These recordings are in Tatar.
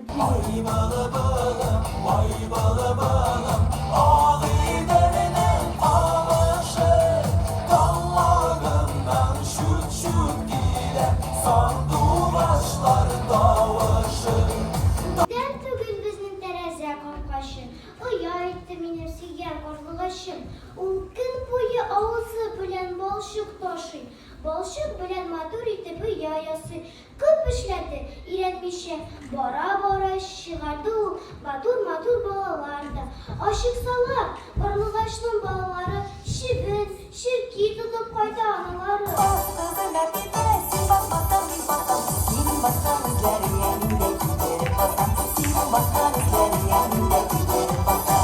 Ай бала балам, ай бала балам, Агый дәрнең камышы. Тамагымнан чүт-чүт килә, Сандугачлар тавышы. Дәрт түгел безнең тәрәзә капкачы, Оя итте минем сөйгән карлыгачым. Ул көн буе авызы белән балчык ташый, Балчык белән матур итеп оя ясый. Күп эшләде, өйрәтмичә, бара-бара чыгарды ул матур-матур балалар да. Ачыксалар, Орлыгачның балалары чебен, черки тотып кайта аналары. Ах, кызым Әпипә, син басмасаң, мин басам, синең баскан эзләреңә мин дә китереп басам, синең баскан эзләреңә мин дә китереп басам.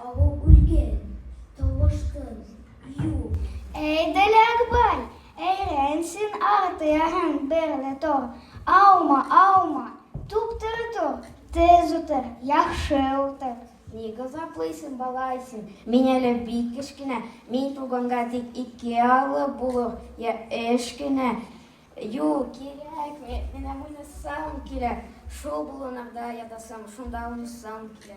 Авыл үлгән, тавыштын, юк. Әй, Дәләкбай, әйрән син артыяһың берле тор. Аума, аума, туптыр тор, тез утыр, яхшы утыр. Ни газаплыйсың, балай син? Мин әле бик кечкенә, мин туганга тик ике алы булыр, я эш кенә. Юк, кирәк, ме- менә уйнасам килә. Шул болынырда ятасың, шунда уйнасам килә.